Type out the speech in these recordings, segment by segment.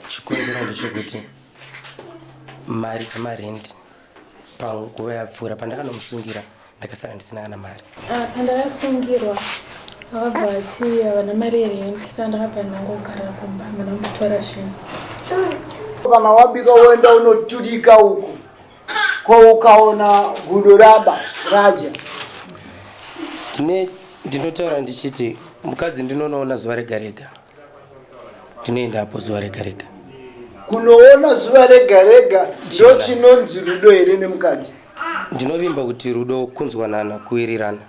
Chikonzero ndechekuti mari dzemarendi panguva yapfuura pandakanomusungira ndakasara ndisina kana mari. Ah, pandakasungirwa akabva ati havana mari yerendi saka ndakabva ndangogara kumba hamana kutora zvinhu. Kana wabika woenda unoturika uku ko ukaona gudo raba raja. Tine ndinotaura ndichiti mukadzi ndinonoona zuva rega rega. tinoenda apo zuva rega rega kunoona zuva rega rega ndo chinonzi rudo here nemukadzi ndinovimba kuti rudo kunzwanana kuwirirana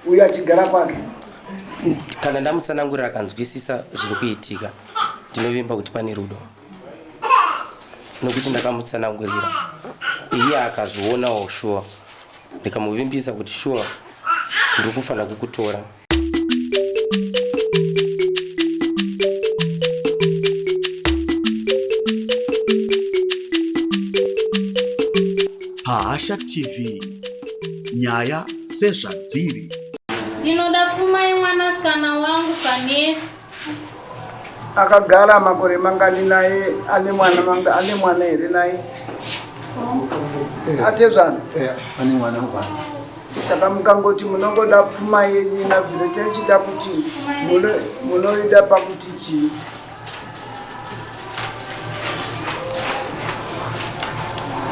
uyo achigara kwake kana ndamutsanangurira akanzwisisa zviri kuitika ndinovimba kuti pane rudo nokuti ndakamutsanangurira iye akazvionawo shuwa ndikamuvimbisa kuti shuwa ndiri kufanira kukutora pahasha tv nyaya sezvadziri ndinoda kumai mwanasikana wangu kanesi Akagara makore mangani naye ane mwana manga ane mwana here naye? Atezvana. Eh, ane mwana mwana. Saka mukangoti munongoda pfuma yenyu na vile tichida kuti muno munoida pakuti chii?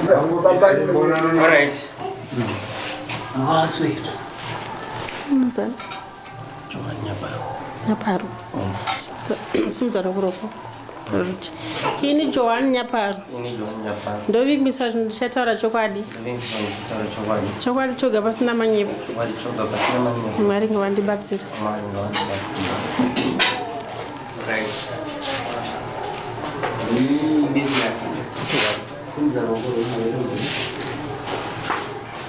All right. Ngwaswe. Mzana. nyaparo simudza roko roko ruti ini johani nyaparo ndovimbisa ndichataura chokwadi chokwadi choga pasina manyepo mwari ngavandibatsira Thank you.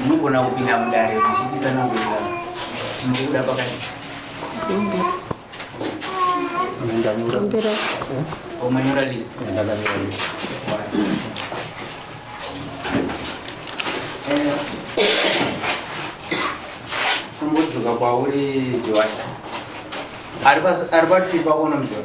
Munogona kupinda mudare muchititsanangurira munokuda pakati. Ndanyora. Omanyora list. Ndakanyora list. Kumbudzoka kwauri Joasa. Ari patiri pakono mzee.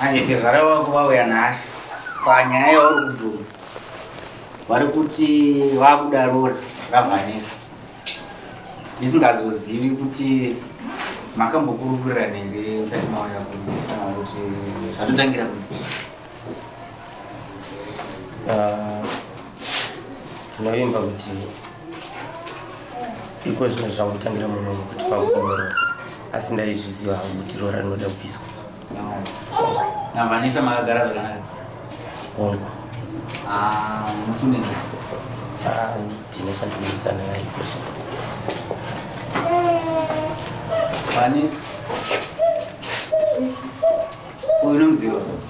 Anditi zvara wako vauya nhasi panyaya yauri kubvuma vari kuti vakuda rori ravanesa ndisingazozivi kuti makambokurukura nenge musati mauya kana kuti zvatotangira ku ah, Tinovimba kuti iko zvino zvangotangira muno kuti pakunyoro asi ndaizviziva hangu kuti roora rinoda kubviswa. Navanisa makagara zvakanaka. Hongu. Ah, musunini. Ah, ndine chandinoitsana naye iko zvino. Vanisa. Uyu unomuziva.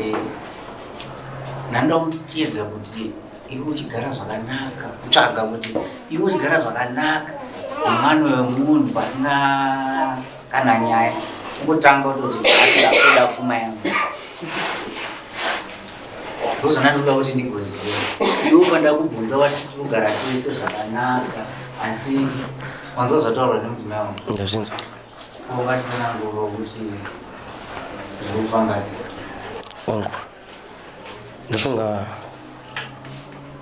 Eh, nanda kutiedza kuti iwe uchigara zvakanaka kutsvaga kuti iwe uchigara zvakanaka mwana wemunhu pasina kana nyaya kutanga kutoti akuda pfuma yangu ndozvona ndoda kuti ndigoziva iwe kwanda kubvunza wati tinogara tese zvakanaka asi wanzwa zvataurwa nemudzimai wangu ndazvinzwa Wangu ndofunga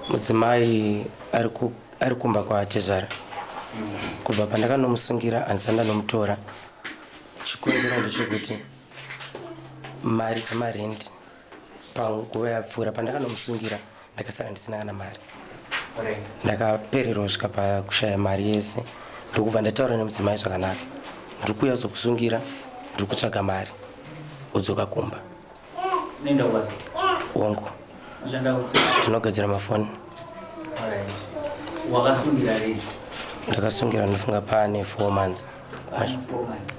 mudzimai ari kumba kwatezvara kubva pandakanomusungira handisa ndanomutora chikonzero ndechekuti mari dzemarendi panguva yapfuura pandakanomusungira ndakasara ndisina kana mari ndakapererwa svika pakushaya mari yese ndokubva ndataura nemudzimai zvakanaka ndiri kuuya kuzokusungira ndiri kutsvaga mari udzoka kumba wangu tinogadzira mafoni ndakasungira ndifunga pane four months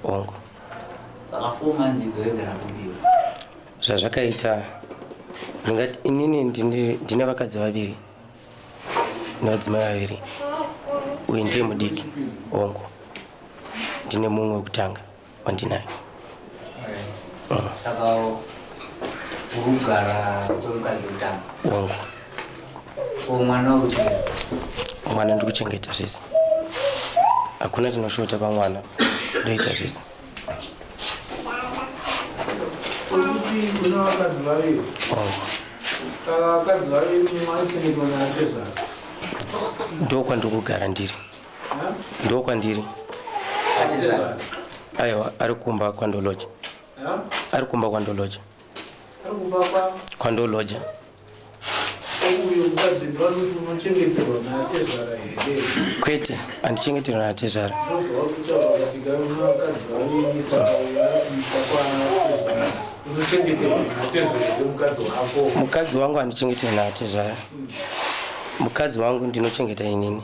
wangu zvazvakaita ndingati inini ndine vakadzi vaviri nevadzimai vaviri uyu ndiye mudiki ongo ndine mumwe wekutanga wandinayo mwana ndikuchengeta zvese hakuna chinoshota pamwana ndoita zvese ndokwandiri kugara ndiri ndokwandiri aiwa ari kumba kwandoloja ari kumba kwandoloja kwandoloja Kwete, handichengeterwa natezvara. Mukadzi wangu handichengeterwa natezvara. Mukadzi wangu ndinochengeta inini.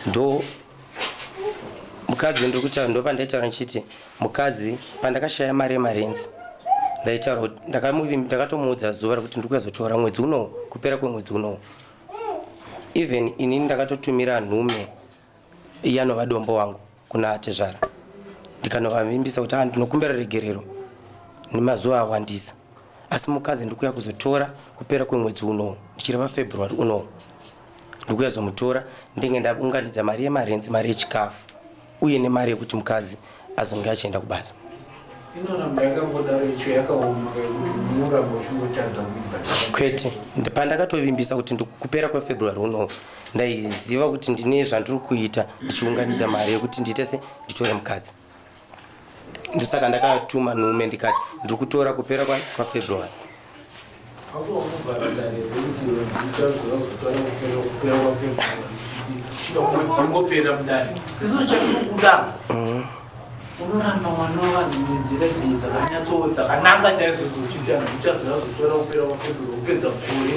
ndo mukadzi ndokutaura ndopandaitaura ndichiti mukadzi pandakashaya mari yemarenzi ndaitaura kuti ndakatomuudza zuva rekuti ndiri kuyazotora mwedzi unowo kupera kwemwedzi unowo even inini ndakatotumira nhume yanovadhombo wangu kuna atezvara ndikanovavimbisa kuti ah, ndinokumbira regerero nemazuva awandisa asi mukadzi ndikuya kuzotora kupera kwemwedzi unowo ndichireva february unowo ndikuya zomutora ndenge ndaunganidza mari yemarenzi mari yechikafu uye nemari yekuti mukadzi azonge achienda kubasa kwete pandakatovimbisa kuti ndikupera kwefebruary unowo ndaiziva kuti ndine zvandiri kuita ndichiunganidza mari yekuti ndiite se nditore mukadzi ndosaka ndakatuma nhume ndikati ndiri kutora kupera kwafebruary unoramba mwana wavanhu nenzira dzii dzakanyatso dzakananga chaizvo dzochiita uchazozotora kupera kwafebruary kupedza gore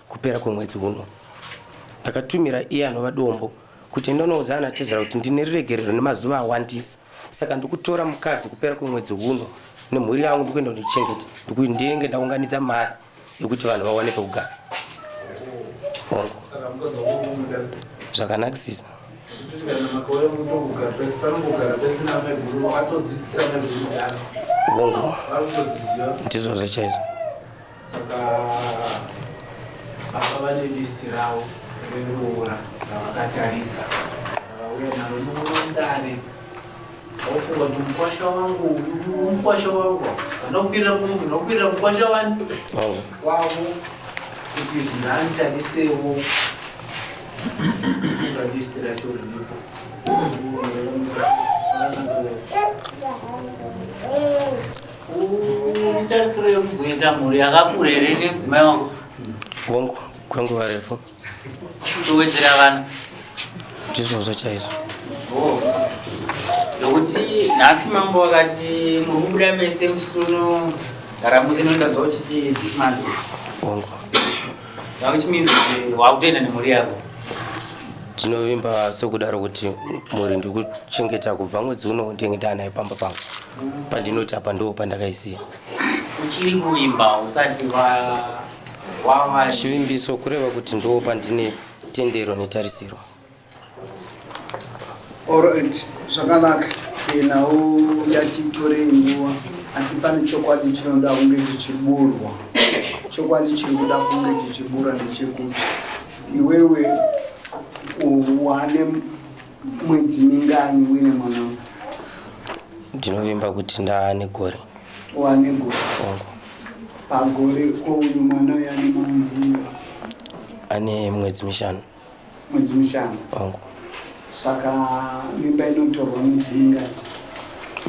Kupera kwemwedzi uno, ndakatumira iye anova dombo kuti enda unoudza ana tezvara kuti ndine ruregerero nemazuva awandisa saka ndikutora mukadzi kupera kwemwedzi uno nemhuri yangu ndikuenda kundichengeta ndikuti ndinenge ndaunganidza mari yekuti vanhu vawane pekugara hongu zvakanakisisa hongu ndizvozvo chaizvo Saka baba vane listi ravo reroora ravakatarisa ravauya naro nomundare aufunga kuti mukwasha wangu mukwasha wangu vanokwira vanokwirira mukwasha wani wavo kuti zvinanitarisewo funga listi racho riripo Uchasure kuzoita mhuri yakakura here nemudzimai wangu? Wangu kwenguva refu. Towedzera vana. Ndizvozvo chaizvo. Oh. Nokuti nhasi mambo vakati muri kubuda mese muchitono gara musi nondanzwa uchiti this man. Wangu. Now which means eh, wakutoenda nemhuri yako. Tinovimba sekudaro kuti mhuri ndikuchengeta kubva mwedzi uno ndenge ndanayo pamba pangu. pandinoti apa ndo pandakaisiya uchiri kuimba usati wava chivimbiso kureva kuti ndo pandine tendero netarisiro orit zvakanaka yenhau yatitorei nguva asi pane chokwadi chinoda kunge chichiburwa chokwadi chiri kuda kunge chichibura ndechekuti iwewe wane Mwedzi mingani uine mwana uyu? Ndinovimba kuti ndaane gore. Waane gore? Ongo. Pagore ko uyu mwana uyu ane mwedzi mingani? Ane mwedzi mishanu. Mwedzi mishanu? Ongo. Saka mimba inotorwa mwedzi mingani?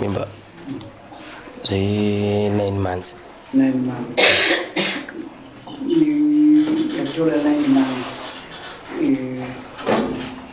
Mimba zve 9 months. 9 months. Yatora 9 months. Eh,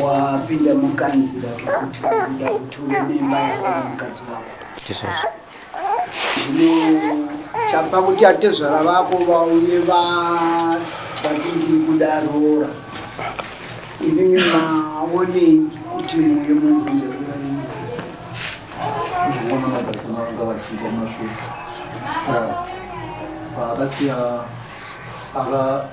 wapinda mukanzira kekuti uda kuti une mimba yako nemukadzi wako ndizvozvo zvino chapa kuti atezvara vako vauye va- vati ndiri kuda roora imimi maonei kuti muye mubvunze roora yemukazi ndinoona mabasa mavanga vachiita mashoko plus vakasiya ava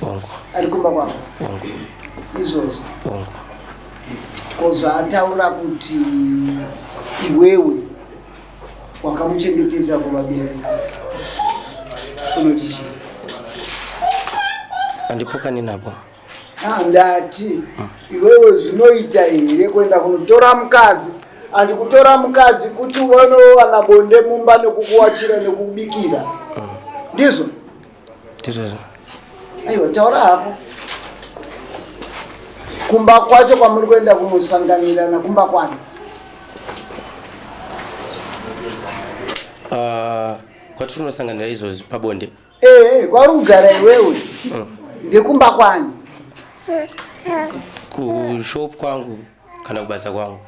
Hongu. Ari kumba kwako. Hongu. Izvozvo. Hongu. Ko zvaataura kuti iwewe wakamuchengetedza kumabere unoti chii? Andipokani napo. Ah, ndati hmm. iwewe zvinoita here kuenda kunotora mukadzi andi kutora mukadzi kuti uone wana bonde mumba nekukuwachira nekubikira ndizvo aiwa taura hako kumba kwacho kwamuri kuenda kunosanganirana kumba kwani ah, kwatiri kunosanganira izvozvi pabonde ee eh, kwauri kugara iwewe mm. ndekumba kwani kushop kwangu kana kubasa kwangu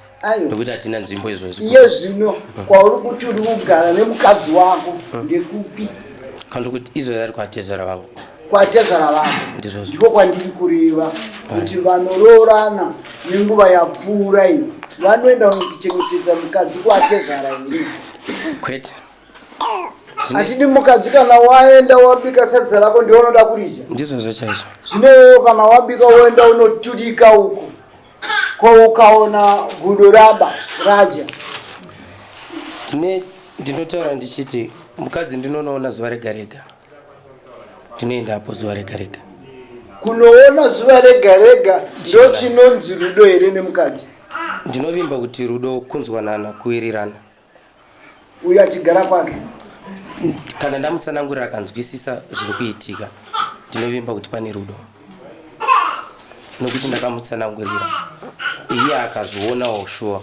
nekuti hatina nzvimbo izvozvo iye zvino mm. kwauri kuti uri kugara nemukadzi wako mm. ndekupi kana kuti izvo rari kwatezvara vangu kwatezvara vangu ndiko kwandiri kureva kuti vanoroorana nenguva yapfuura iyi vanoenda kuchengetedza mukadzi kwatezvara iri kwete hatidi mukadzi kana waenda wabika sadza rako ndiwe unoda kuridya ndizvozvo chaizvo zvino iwewe kana wabika woenda unoturika uko ko ukaona gudo raba radya tine ndinotaura ndichiti mukadzi ndinonoona zuva rega rega ndinoenda apo zuva rega rega kunoona zuva rega rega ndo chinonzi rudo here nemukadzi ndinovimba kuti rudo kunzwanana kuwirirana uyo achigara kwake kana ndamutsanangurira akanzwisisa zviri kuitika ndinovimba kuti pane rudo nokuti ndakamutsanangurira iye akazvionawo shuwa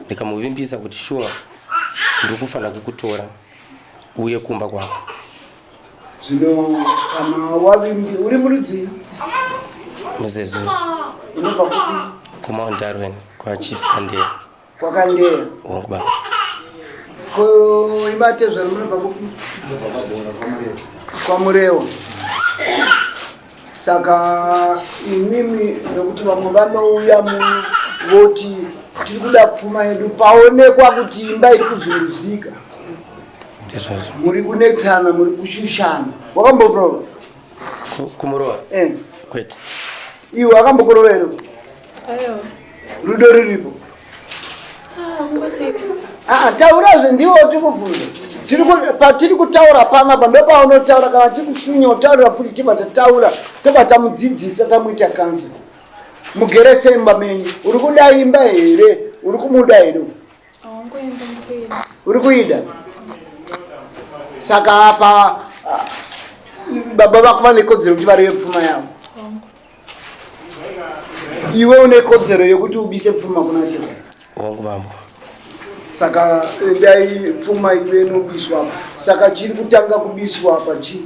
ndikamuvimbisa kuti shuwa ndiri kufanira kukutora uye kumba kwako zvino kana wavimbi uri murudzii muzezuru unobva kupi kumaundarweni kwachief kandera Kwakandera. Hongu baba. Ko imba tezvara munobva kupi? Kwamurewa. Saka imimi nekuti vamwe vanouya muno voti tiri kuda pfuma yedu paonekwa kuti imba iri kuzuruzika. Tezvazvo. Muri kunetsana, muri kushushana. Wakamboprova? Kumurowa? Eh. Kwete. Iwe akambokurova here? rudo ruripo ah, ah, taurazve ndiwo tikubvunza patiri kutaura panapa ndopaunotaura kana tikushunya utaurira futi tibva tataura tobva tamudzidzisa tamuita kansa mugere semba menyu uri kuda imba here uri kumuda here uri kuida saka apa baba vako vane kodzero kuti varive pfuma yavo iwe une kodzero yokuti ubise pfuma kuna tezvara hongu mambo saka eh, dai pfuma iwe inobiswa apa saka chiri kutanga kubiswa apa chii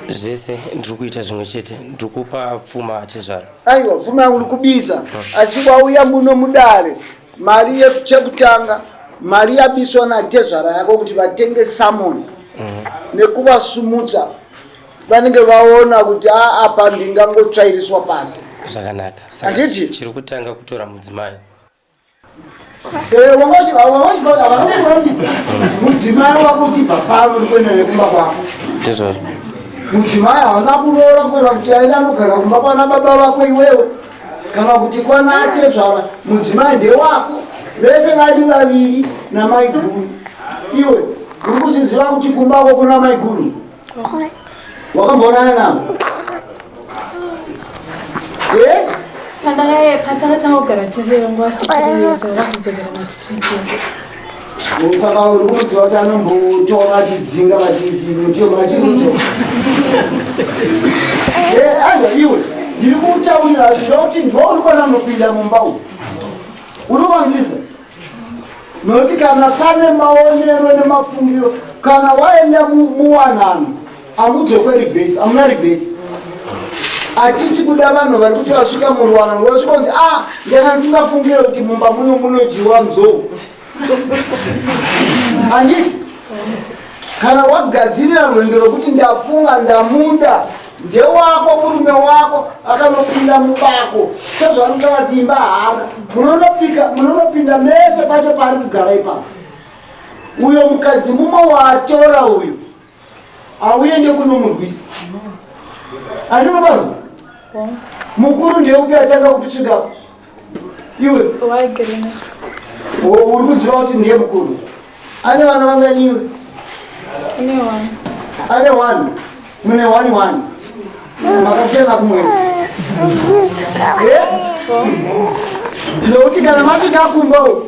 zvese ndiri kuita zvimwe chete ndiri kupa pfuma atezvara aiwa pfuma yangu ndikubisa asi wauya muno mudare mari yekuchekutanga mari yabiswa natezvara yako kuti vatenge samon mm. nekuvasumutsa vanenge vaona kuti a apa ndingangotsvairiswa pasi zvakanaka anditi chiri kutanga kutora mudzimai eh, wangachivaaurambidza mudzimai wako uchibva pano ndikuenda nekumba kwako ndizvozvo mudzimai haana kuroora kuenda kuti aenda anogara kumba kwana baba vako iwewe kana kuti kwana atezvara mudzimai ndewako vese vari vaviri namaiguru iwe uri kuzviziva kuti kumbako kuna maiguru wakamboonana navo eh? pandakaiye patakatanga kugara tiriyo nguva sisiri yese vakazodzokera matisirii Saka uri kuziva kuti anombotora vachidzinga vachiti mutemo achizoto. Eh, anga iwe ndiri kutaurira hazvida kuti ndwauri kwana anopinda mumba uyu. Uri kuvanzisa? Nokuti kana pane maonero nemafungiro kana waenda muwanano Amudzokwe reverse, amuna reverse. Atisi kuda vanhu vari kuti vasvika muruwana rwasvika kunzi ah ndanga ndisingafungire kuti mumba muno munodyiwa nzou. Handiti? Kana wagadzirira rwendo rwekuti ndafunga ndamuda ndewako murume wako akanopinda mubako sezvaanoita vati imba haana munonopika munonopinda mese pacho paari kugara ipapo uyo mukadzi mumwe waatora uyu auye nekunomurwisa arino vanhu mukuru ndeupi atanga kupi chikapo iwe uri kuziva kuti ndiye mukuru ane vana vanganiwe ane one mune one one makasiyana kumwedzi eh? nokuti kana masvika kumba uku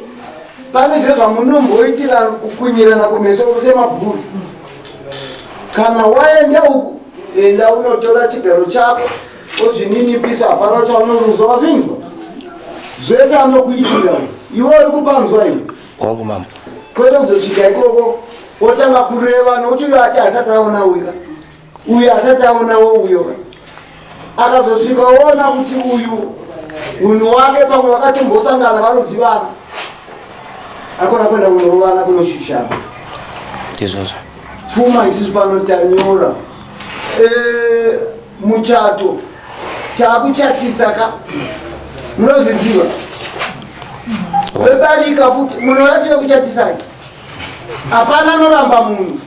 pane zviro zvamunomboitira kukunyirana kumeso kusemabhuru kana waenda uku enda unotora chigaro chako ozvininipisa hapana chaunoruza wazvinzwa zvese anokuitira iwe uri kupanzwa iwe wangu mama kwete kuzosvika ikoko wotanga kureva nokuti uyo ati asati aona uya uyu asati aonawo uyo akazosvika oona kuti uyu unhu wake pamwe vakatombosangana vanozivana akona kuenda kunorovana kunoshushana izvozvo pfuma isusu pano tanyora eh, muchato takuchatisa ka munozviziva vebarika futi munhu vachida kuchatisai hapana anoramba munhu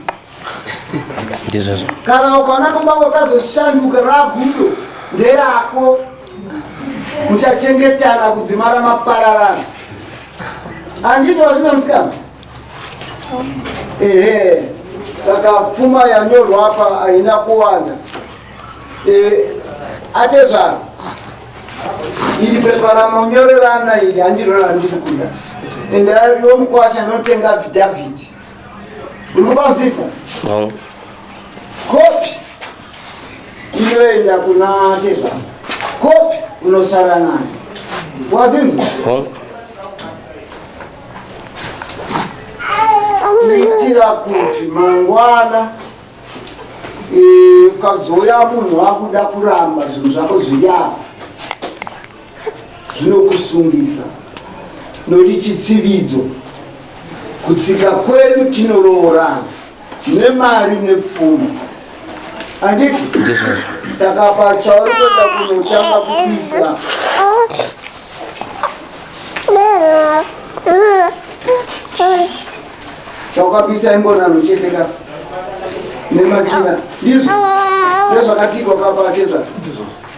ndizvozvo kana ukaona kumba kwakazoshanduka ragudo nderako muchachengetana kudzimara mapararana anditi wazvina musikana ehe saka pfuma yanyorwa apa haina kuwanda e, atezvaro iri pepa ramonyorerana iri handiro randiri kuda ende iwo mukwasha notenga vidhavhidhi Unobanzwisa? No. Kopi inoenda kuna tezvara. Kopi unosara nayo. Wazinzi? No. Kuitira kuti mangwana ukazouya munhu wakuda kuramba zvinhu zvako zviri apa zvinokusungisa nokuti chitsividzo kutsika kwedu tinoroorana nemari nepfuma anditi saka pachauri kuenda kunotanga kupisa chaukapisa imbonano chete ka nemachina ndizvo ndezvakatikwa kapachezva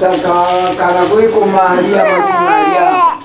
Saka kana kuiko mari yamakumari